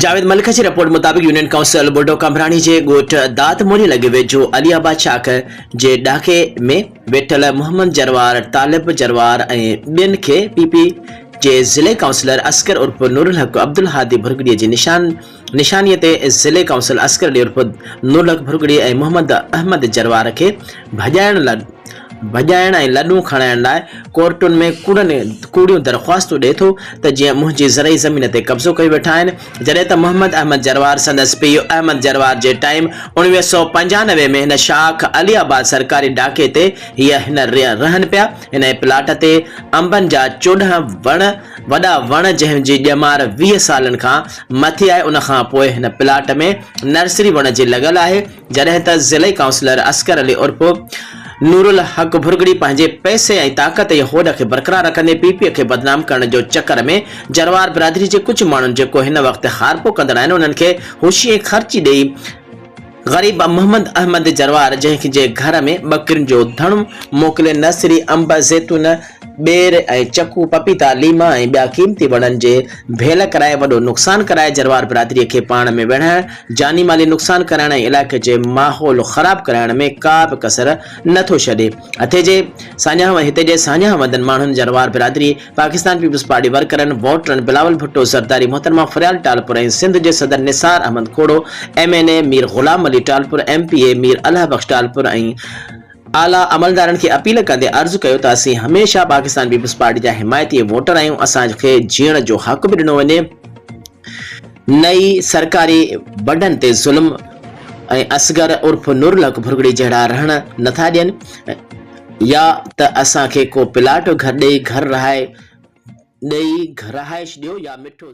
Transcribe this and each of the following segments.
جاويد ملڪ جي رپورٽ مطابق union council Bodo Qambrani جي ڳوٺ داد موري لڳ ويجهو علي آباد شاخ جي ڏاڪي ۾ ويٺل محمد جروار، طالب جروار ۽ ٻين کي پي پي جي ضلعي ڪائونسلر اصغر عرف نورالحق عبدالهادي ڀرڳڙي جي نشان نشاني تي ضلعي ڪائونسل اصغر علي عرف نورالحق ڀرڳڙي ۽ محمد احمد جروار کي ڀڄائڻ لاء ڀڄائڻ ۽ لڏون کڻائڻ لاء ڪورٽن ۾ ڪوڙن ڪوڙيون درخواستون ڏئي ٿو ته جيئن منهنجي زرعي زمين تي قبضو ڪيو ويٺا آهن جڏهن ته محمد احمد جروار سندس پيء احمد جروار جي ٽائيم اڻويهه سؤ پنجانوي ۾ هن شاخ علي آباد سرڪاري ڏاڪي تي هي هن رهن پيا انهي پلاٽ تي انبن جا چوڏهن وڻ وڏا وڻ جنهن جي ڄمار ويهه سالن کان مٿي آهي ان کان پوء هن پلاٽ ۾ نرسري وڻ جي لڳل آهي جڏهن ته ضلعي ڪائونسلر اصغر علي عرف نورالحق ڀرڳڙي پنهنجي پئسي ۽ طاقت جي هوڏ کي برقرار رکندي پي پي کي بدنام ڪرڻ جو چڪر ۾ جروار برادري جي ڪجهه ماڻهن جيڪو هن وقت هارپو ڪندڙ آهن انهن کي هوشي ۽ خرچي ڏئي غريب محمد احمد جروار جنهن جي گهر ۾ ٻڪرين جو ڌڻو موڪلي نرسري انب زيتون ٻير ۽ چڪو، پپيتا، ليما ۽ ٻيا قيمتي وڻن جي ڀيل ڪرائي وڏو نقصان ڪرائي جروار برادري کي پاڻ ۾ ويڙهائڻ، جاني مالي نقصان ڪرائڻ ۽ علائقي جي ماحول خراب ڪرائڻ ۾ ڪا به ڪسر نه ٿو ڇڏي. هتي جي ساڃاهه هتي جي ساڃاهه وندن ماڻهن جروار برادري، پاڪستان پيپلز پارٽي ورڪرن، ووٽرن، بلاول ڀٽو، زرداري محترمه فريال ٽالپر ۽ سنڌ جي صدر Nisar Ahmed Khoro, M N A Mir Ghulam Ali Talpur, M P A Mir Allah Bux Talpur ۽ اعليٰ عملدارن کي اپيل ڪندي عرض ڪيو ته اسين هميشه پاڪستان پيپلز پارٽي جا حمايتي ووٽر آهيون، اسان کي جيئڻ جو حق به ڏنو وڃي نه ئي سرڪاري بنڊن تي ظلم ۽ اصغر عرف نورالحق ڀرڳڙي جهڙا رهڻ نه ٿا ڏين يا ته اسان کي ڪو پلاٽ گهر ڏئي گهر رهائي ڏئي رهائش ڏيو يا مٺو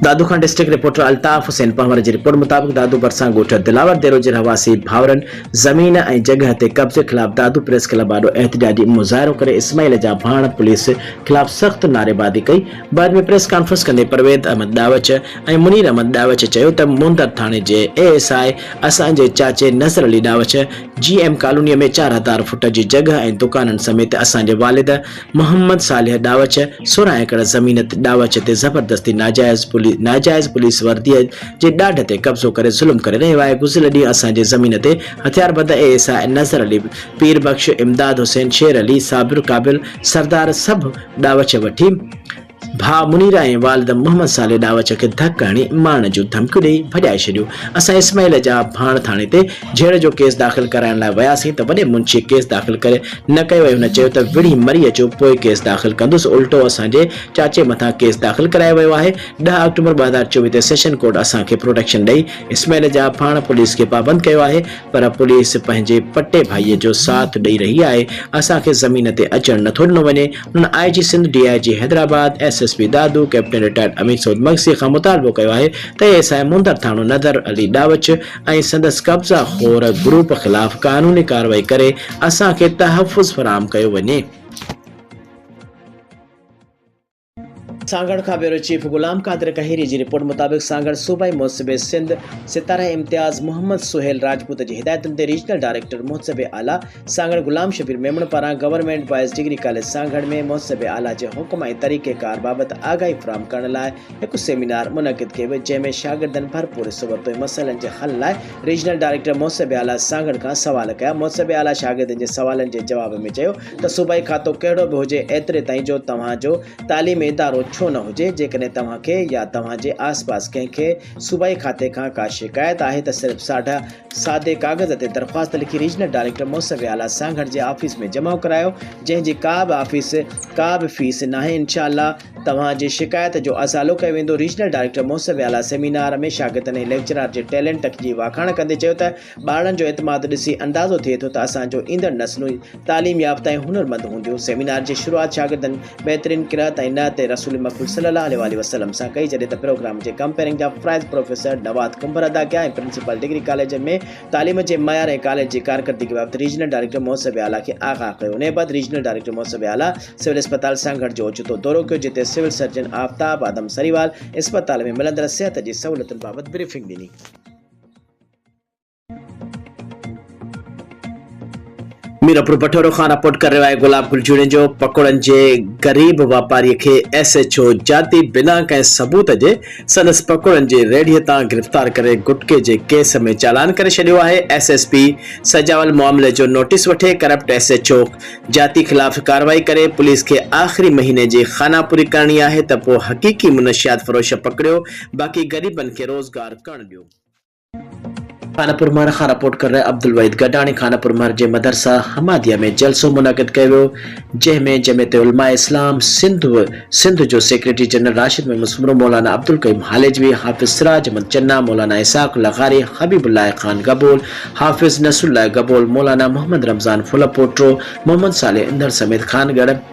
دادو کان ڊسٽرڪٽ رپورٽر الطاف حسين پنهور جي رپورٽ مطابق دادو ڀرسان ڳوٺ دلاور ديرو جي رهواسي ڀائرن زمين ۽ جڳهه تي قبضي خلاف دادو پريس ڪلب آڏو احتجاجي مظاهرو ڪري اسماعيل جا ڀاڻ پوليس خلاف سخت نعريبازي ڪئي بعد ۾ پريس ڪانفرنس ڪندي پرويز احمد ڏاوچ ۽ منير احمد ڏاوچ چيو ته موندر ٿاڻي جي اي ايس آء اسان جي چاچي نظر علي ڏاوچ جي ايم ڪالوني ۾ چار هزار فوٽ جي جڳهه ۽ دڪانن سميت اسان جي والد محمد صالح ڏاوچ سورهن ايڪڙ زمين تي ڏاوچ تي زبردستي ناجائز ناجائز پوليس ورديء جي ڏاڍ تي قبضو ڪري ظلم ڪري رهيو آهي گذريل ڏينهن اسان جي زمين تي هٿياربند اي ايس آء نظر علي پير بخش امداد حسين شير علي صابر قابل سردار سڀ ڏاوچ وٺي ڀاء منير ۽ والد محمد صالح ڏاوچ کي ڌڪ هڻي مارڻ جون ڌمڪيون ڏيئي ڀڄائي ڇڏيو. اسان اسماعيل جا ڀاڻ ٿاڻي تي جهيڙ جو ڪيس داخل ڪرائڻ لاء وياسين ته وڏي منشيء ڪيس داخل ڪري نه ڪيو ۽ هن چيو ته وڙهي مري اچو پوء ڪيس داخل ڪندس الٽو اسان جي چاچي مٿان ڪيس داخل ڪرايو ويو آهي ڏهه آڪٽوبر ٻه هزار چوويهه تي سيشن ڪورٽ اسان کي پروٽيڪشن ڏئي اسماعيل جا ڀاڻ پوليس کي پابند ڪيو آهي پر پوليس پنهنجي پٽي ڀائيء جو ساٿ ڏئي رهي آهي اسان کي زمين تي اچڻ نٿو ڏنو وڃي هن I G Sindh, D I G Hyderabad, S S P Dadu, captain retired Amin Saud مگسيء کان مطالبو ڪيو آهي ته اي ايس آء مندر ٿاڻو نظر علي ڏاوچ ۽ سندس قبضا خور گروپ خلاف قانوني ڪارروائي ڪري اسان کي تحفظ فراهم ڪيو وڃي. سانگهڙ کان بيورو چيف غلام قادر ڪهيري جي رپورٽ مطابق سانگهڙ صوبائي محتسب سنڌ ستاره امتياز محمد سهيل راجپوت جي هدايتن تي ريجنل ڊائريڪٽر محتسب اعليٰ سانگهڙ غلام شبير ميمڻ پاران government boys degree college Sanghar ۾ محتسب اعليٰ جي حڪم ۽ طريقيڪار بابت آگاهي فراهم ڪرڻ لاء هڪ سيمينار منعقد ڪيو ويو جنهن ۾ شاگردن ڀرپور حصو ورتو ۽ مسئلن جي حل لاء ريجنل ڊائريڪٽر محتسب اعليٰ سانگهڙ کان سوال ڪيا محتسب اعليٰ شاگردن جي سوالن جي جواب ۾ چيو ته صوبائي کاتو ڪهڙو به هجي ايتري تائين جو توهان جو تعليمي ادارو ڇو نه هجي جيڪڏهن توهان کي يا توهان جي آس پاس ڪنهن کي صوبائي کاتي کان ڪا شڪايت آهي ته صرف ساڍا سادي ڪاغذ تي درخواست لکي ريجنل ڊائريڪٽر موسمي آلات سانگهڙ جي آفيس ۾ جمع ڪرايو جنهن جي ڪا به آفيس ڪا به فيس ناهي انشاء الله توهان جي شڪايت جو ازالو ڪيو ويندو ريجنل ڊائريڪٽر موسمي آلات سيمينار ۾ شاگردن ۽ ليڪچرار جي ٽيلينٽ جي واکاڻ ڪندي چيو ته ٻارڙن جو اعتماد ڏسي اندازو ٿئي ٿو ته اسان جون ايندڙ نسلون تعليم يافته ۽ هنرمند هونديون. سيمينار جي شروعات شاگردن بهترين قرائت ۽ نعت رسول مقبول صلي الله عليه واٰله وسلم سان ڪئي جڏهن ته پروگرام جي ڪمپيئرنگ جا فرائض پروفيسر نواد ڪنڀر ادا ڪيا ۽ پرنسپال ڊگري ڪاليج ۾ تعليم جي معيار ۽ ڪاليج جي ڪارڪردگي بابت ريجنل ڊائريڪٽر مهذب اعليٰ کي آگاهه ڪيو انهيء بعد ريجنل ڊائريڪٽر مهذب اعليٰ سول اسپتال سانگهڙ جو اوچتو دورو ڪيو جتي سول سرجن آفتاب آدم سريوال اسپتال ۾ ملندڙ صحت جي سهولتن بابت بريفنگ ڏني. ميرپور بٺورو کان رپورٽ ڪري رهيو آهي گلاب گل جوڻيجو پڪوڙن جي غريب واپاري کي ايس ايڇ او جاتي بنا ڪنهن ثبوت جي سندس پڪوڙن جي ريڙهي تان گرفتار ڪري گٽڪي جي ڪيس ۾ چالان ڪري ڇڏيو آهي ايس ايس پي سجاول معاملي جو نوٽيس وٺي corrupt S H O Jati خلاف ڪارروائي ڪري پوليس کي آخري مهيني جي خانه پوري ڪرڻي آهي ته پوء حقيقي منشيات فروش پڪڙيو باقي غريبن کي روزگار ڪرڻ ڏيو. خانپور مهر کان رپورٽ ڪر رهي عبدالوحيد گڏاڻي خانپور مهر جي مدرسه حماديه ۾ جلسو منعقد ڪيو ويو جنهن ۾ جمعيت علماء اسلام سنڌ و سنڌ جو سيڪريٽري جنرل راشد محمد سومرو مولانا عبدالقيوم هاليجوي حافظ سراج احمد چنا مولانا اسحاق لغاري حبيب الله خان گبول حافظ نصرالله گبول مولانا محمد رمضان ڦلپوٽو محمد صالح انڌڙ سميت خانڳڙهه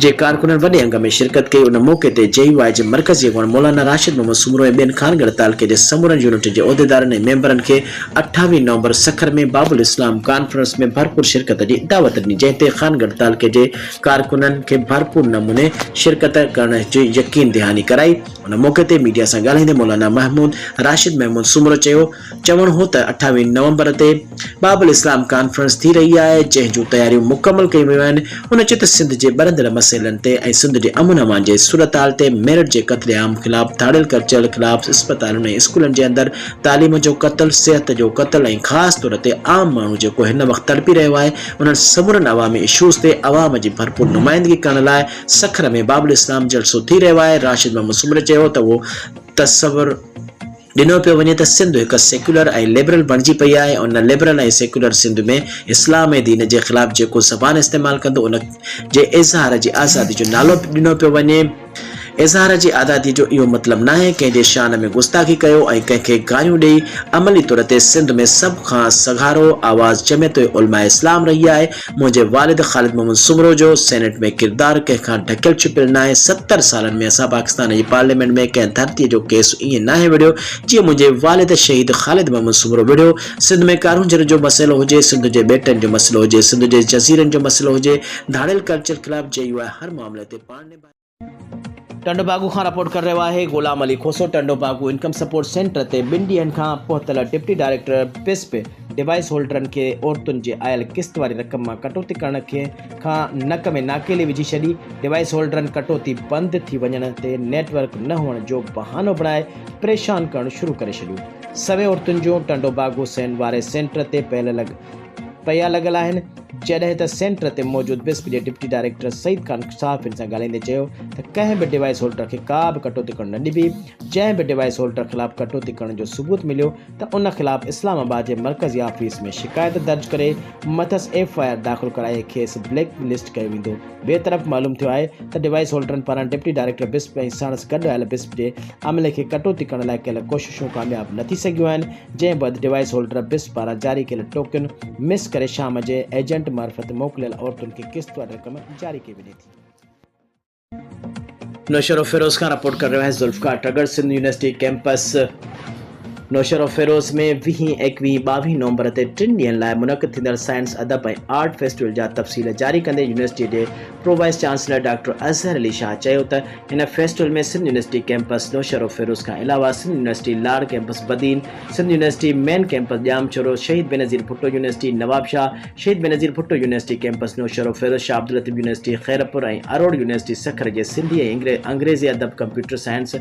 جي ڪارڪنن وڏي انگ ۾ شرڪت ڪئي، ان موقعي تي جي يو آء جي مرڪزي اڳواڻ مولانا راشد محمد سومرو ۽ ٻين خانڳڙهه تعلقي جي سمورن يونٽن جي عهديدارن ۽ ميمبرن کي اٺاويهه نومبر سکر ۾ باب الاسلام ڪانفرنس ۾ ڀرپور شرڪت جي دعوت ڏني جنهن تي خانڳڙهه تعلقي جي ڪارڪنن کي ڀرپور نموني شرڪت ڪرڻ جي يقين دهاني ڪرائي ان موقعي تي ميڊيا سان ڳالهائيندي مولانا محمود راشد محمود سومرو چيو چوڻ هو ته اٺاويهه نومبر تي باب الاسلام ڪانفرنس ٿي رهي آهي، جنهن جون تياريون مڪمل ڪيون ويون آهن، هن چيو ته سنڌ جي ٻرندڙ مسئلن تي ۽ سنڌ جي امن امان جي صورتحال تي، ميرٽ جي قتل عام خلاف، ڌاڙيل ڪرچيل خلاف، اسپتالن ۽ اسڪولن جي اندر تعليم جو قتل، صحت جو قتل ۽ خاص طور تي عام ماڻهو جيڪو هن وقت تڙپي رهيو آهي، انهن سمورن عوامي اشوز تي عوام جي ڀرپور نمائندگي ڪرڻ لاء سکر ۾ باب الاسلام جلسو ٿي رهيو آهي، راشد محمد سومري چيو ته اهو تصور. ڏنو پيو وڃي ته سنڌ هڪ سيڪيولر ۽ لبرل بڻجي پئي آهي ۽ ان لبرل ۽ سيڪيولر سنڌ ۾ اسلام ۽ دين جي خلاف جيڪو زبان استعمال ڪندو ان جي اظهار جي آزادي جو نالو ڏنو پيو وڃي اظهار جي آزادي جو اهو مطلب ناهي ڪنهن جي شان ۾ گستاخي ڪيو ۽ ڪنهن کي گاريون ڏئي عملي طور تي سنڌ ۾ سڀ کان سگهارو آواز جمعيت علماء اسلام رهي آهي منهنجي والد خالد محمد سومرو جو سينيٽ ۾ ڪردار ڪنهن کان ڍڪيل ڇپيل ناهي، ستر سالن ۾ اسان پاڪستان جي پارليامينٽ ۾ ڪنهن ڌرتيء جو ڪيس ائين ناهي وڙهيو جيئن منهنجي والد شهيد خالد محمد سومرو وڙهيو، سنڌ ۾ ڪارونجهر جو مسئلو هجي، سنڌ جي ٻيٽن جو مسئلو هجي، سنڌ جي جزيرن جو مسئلو هجي، ڌاڙيل ڪلچر خلاف جي يو آء هر معاملي تي پاڻ نڀائي. ٽنڊوباگو کان رپورٽ ڪري رهيو آهي Ghulam Ali Khoso Tando Bago income support centre تي ٻن ڏينهن کان پهتل ڊپٽي ڊائريڪٽر پيسپ ڊوائيس هولڊرن کي عورتن جي آيل قسط واري رقم مان ڪٽوتي ڪرڻ کان نڪ ۾ ناڪيلي وجهي ڇڏي ڊوائيس هولڊرن ڪٽوتي بند ٿي وڃڻ تي نيٽ ورڪ نه هئڻ جو بهانو بڻائي پريشان ڪرڻ شروع ڪري ڇڏيو سوين عورتن جون ٽنڊوباگو سين واري سينٽر تي پيل لڳ پيا لڳل آهن، جڏهن ته سينٽر تي موجود بسپ جي ڊپٽي ڊائريڪٽر سعيد خان صحافين سان ڳالهائيندي چيو ته ڪنهن به ڊوائيس هولڊر کي ڪا به ڪٽوتي ڪرڻ نه ڏبي، جنهن به ڊوائيس هولڊر خلاف ڪٽوتي ڪرڻ جو ثبوت مليو ته ان خلاف اسلام آباد جي مرڪزي آفيس ۾ شڪايت درج ڪري مٿس ايف آء آر داخل ڪرائي کيس بليڪ لسٽ ڪيو ويندو، ٻئي طرف معلوم ٿيو آهي ته ڊوائيس هولڊرن پاران ڊپٽي ڊائريڪٽر بسپ ۽ ساڻس گڏ آيل بسپ جي عملي کي ڪٽوتي ڪرڻ لاء ڪيل ڪوششون ڪامياب نه ٿي سگهيون آهن، جنهن بعد ڊوائيس هولڊر بس پاران جاري ڪيل ٽوڪن مس ڪري شام جي ايجنٽ معرفت موڪليل عورتن کي قسط واري رقم جاري ڪئي وڃي ٿي. نوشهروفيروز کان رپورٽ ڪري رهيو آهيان ذوالفقار ٽڳڙ سنڌ يونيورسٽي ڪيمپس نوشهروفيروز ۾ ويهين، ايڪويهين، ٻاويهين نومبر تي ٽن ڏينهن لاء منعقد ٿيندڙ سائنس، ادب ۽ آرٽ فيسٽيول جا تفصيل جاري ڪندي يونيورسٽي جي pro vice chancellor doctor Azhar Ali Shah چيو ته هن festival ۾ Sindh university campus Naushahro Feroze کان علاوه Sindh university Lar campus Badin, Sindh university main campus Jamshoro, Shaheed Benazir Bhutto university Nawabshah, Shaheed Benazir Bhutto university campus Naushahro Feroze, Shah Abdul Latif university Khairpur ۽ Aror university Sukkur جي سنڌي ۽ انگريزي ادب computer science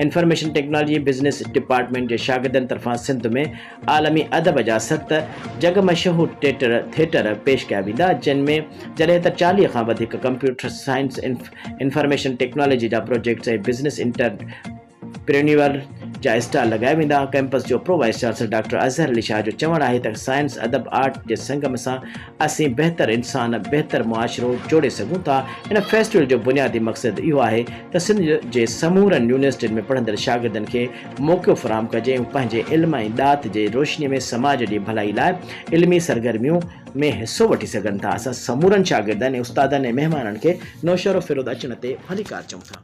information technology business department جي شاگردن طرفان سنڌ ۾ عالمي ادب جا ست جڳ مشهور ٽيٽر، ٿيٽر، پيش ڪيا ويندا، جن ۾ جڏهن ته چاليهه کان وڌيڪ ڪمپيوٽر سائنس، انفارميشن ٽيڪنالاجي جا پروجيڪٽس ۽ بزنس انٽرپرينيوئر جا اسٽال لڳايا ويندا. ڪئمپس جو pro vice chancellor doctor Azhar Ali Shah جو چوڻ آهي ته سائنس، ادب، آرٽ جي سنگم سان اسين بهتر انسان، بهتر معاشرو جوڙي سگهون ٿا. هن فيسٽيول جو بنيادي مقصد اهو آهي ته سنڌ جي سمورن يونيورسٽين ۾ پڙهندڙ شاگردن کي موقعو فراهم ڪجي ۽ پنهنجي علم ۽ ڏات جي روشني ۾ سماج جي ڀلائي لاء علمي سرگرميون ۾ حصو وٺي سگهن ٿا اسان سمورن شاگردن ۽ استادن ۽ مهمانن کي نوشهرو فيروز اچڻ تي ڀليڪار چئون ٿا.